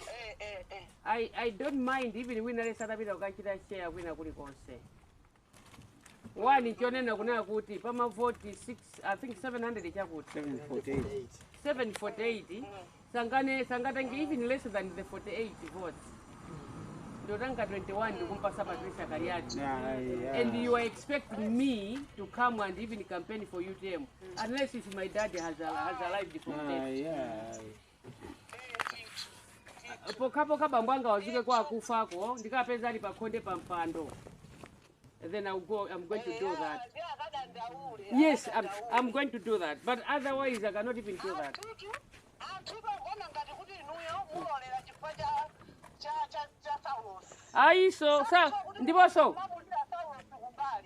Eh, eh, eh. I, I don't mind even wina lesa atapita kukachita share kwina kulikonse wani chonena kunena kuti pamavoti 6 i think 700 chakuti 748 748 sangane sangatenge even less than the 48 votes ndotanga 21 ndikumpasa patricia kaliati and you are expecting me to come and even campaign for utm unless if my dad has, a, has arrived from death pokhapokha bambo anga awazuke kwa akufako ndikapeza ali pakhonde pa mpando then I'm going to do that yes I'm, I'm going to do that but otherwise I cannot even do that ayiso sa ndiponso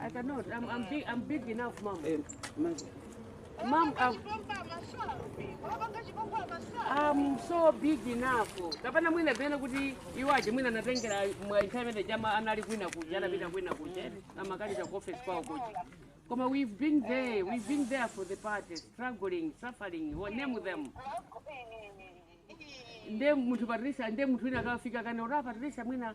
I cannot. I'm, I'm, big, I'm big enough, mom. Eh, mom, I'm, I'm so big enough. Kapana mwina bena kuti iwaje mwina natengera mwa internet jama anali kwina kuja anapita kwina kuja amakali cha office kwao kuja. Koma we've been there. We've been there for the party, struggling, suffering. What name them? Nde mtu Patricia, nde mtu wina kafika kana ora Patricia mwina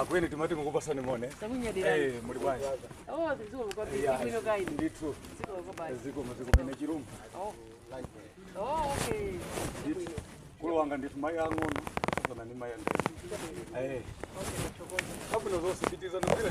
akweni timati tikupatseni moni Eh, muli bwanji ndithu zikomo zikumene chirungu mkulu wanga ndithu mayi ang'ono sona ni mayi andee kabwino zonse pitiza nogwira